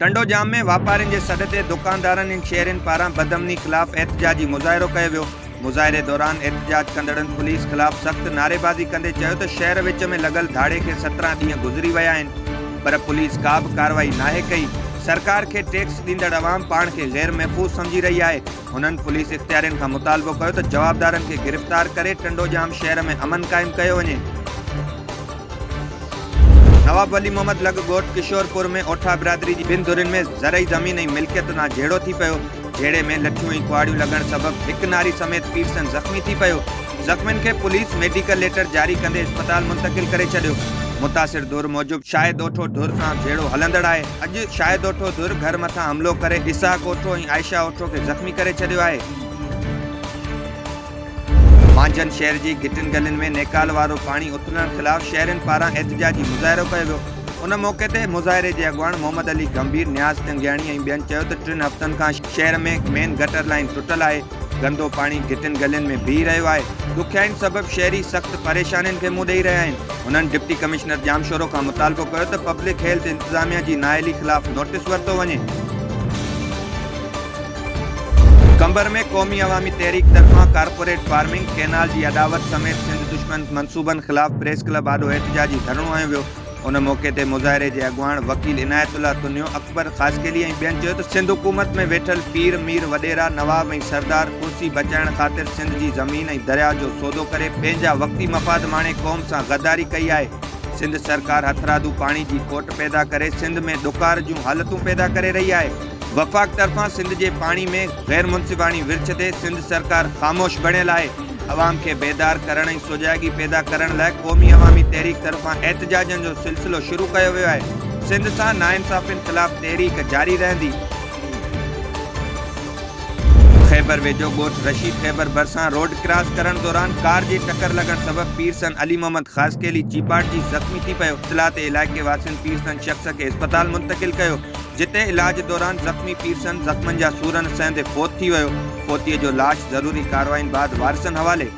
ٽنڊوڄام ۾ واپارين جي سڏ تي دڪاندارن ۽ شهرين پاران بدامني خلاف احتجاجي مظاهرو ڪيو ويو مظاهري دوران احتجاج ڪندڙن پوليس خلاف سخت نعريبازي ڪندي چيو ته شهر وچ ۾ لڳل ڌاڙي کي سترهن ڏينهن گذري ويا آهن پر پوليس ڪا به ڪارروائي ناهي ڪئي سرڪار کي ٽيڪس ڏيندڙ عوام پاڻ کي غير محفوظ سمجهي رهي آهي هنن پوليس اختيارين کان مطالبو ڪيو ته جوابدارن کي گرفتار ڪري ٽنڊوڄام شهر ۾ امن قائم ڪيو وڃي. نواب ولي محمد لڳ ڳوٺ ڪشورپور ۾ اوٺا برادري جي ٻن ڌرين ۾ زرعي زمين ۽ ملڪيت تان جهيڙو ٿي پيو، جهيڙي ۾ لٺيون ۽ ڪهاڙيون لڳڻ سبب هڪ ناري سميت پيرسن زخمي ٿي پيو، زخمين کي پوليس ميڊيڪل ليٽر جاري ڪندي اسپتال منتقل ڪري ڇڏيو، متاثر ڌر موجب شاهد اوٺو ڌر سان جهيڙو هلندڙ آهي. اڄ شاهد اوٺو ڌر گهر مٿان حملو ڪري اسحاق اوٺو ۽ عائشه اوٺو کي زخمي ڪري ڇڏيو آهي. مانجهند شهر جي گهٽين گلين ۾ نيڪال وارو پاڻي اٿلڻ خلاف شهرين پاران احتجاجي مظاهرو ڪيو ويو. ان موقعي تي مظاهري جي اڳواڻ محمد علي گنڀير، نياز ٽنگياڻي ۽ ٻين چيو ته ٽن هفتن کان شهر ۾ مين گٽر لائين ٽٽل آهي. گندو پاڻي گهٽين گلين ۾ بيهي رهيو آهي، ڏکيائين سبب شهري سخت پريشانين کي منهن ڏئي رهيا آهن، هنن ڊپٽي ڪمشنر ڄامشورو کان مطالبو ڪيو ته پبلڪ هيلٿ انتظاميا جي نااهلي خلاف نوٽيس ورتو وڃي. قمبر ۾ قومي عوامي تحريڪ طرفان ڪارپوريٽ فارمنگ، ڪينال جي اڏاوت سميت سنڌ دشمن منصوبن خلاف پريس ڪلب آڏو احتجاجي ڌرڻو هنيو ويو، ان موقعي تي مظاهري جي اڳواڻ وڪيل عنايت الله تنيو، اڪبر خاصخيلي ۽ ٻين چيو ته سنڌ حڪومت ۾ ويٺل پير، مير، وڏيرا، نواب ۽ سردار ڪرسي بچائڻ خاطر سنڌ جي زمين ۽ درياهه جو سودو ڪري پنهنجا وقتي مفاد ماڻي قوم سان غداري ڪئي آهي، سنڌ سرڪار هٿرادو پاڻي جي کوٽ پيدا ڪري سنڌ ۾ ڏڪار جون حالتون پيدا ڪري رهي آهي، وفاق طرفان سنڌ جي پاڻي ۾ غيرمنصفاڻي ورڇ تي سنڌ سرڪار خاموش بڻيل آهي. عوام کي بيدار ڪرڻ ۽ سجاڳي پيدا ڪرڻ لاء قومي عوامي تحريڪ طرفان احتجاجن جو سلسلو شروع ڪيو ويو آهي، سنڌ سان ناانصافين خلاف تحريڪ جاري رهندي. خيبر ويجهو ڳوٺ رشيد خيبر ڀرسان روڊ ڪراس ڪرڻ دوران ڪار جي ٽڪر لڳڻ سبب پيرسن علي محمد خاصخيلي چيپاٽجي زخمي ٿي پيو، اطلاع تي علائقي واسين پيرسن شخص کي اسپتال منتقل ڪيو، جتي علاج دوران زخمي پير سن زخمن جا سور نه سهندي فوت ٿي ويو، فوتيء جو لاش ضروري ڪاررواين بعد وارثن حوالي.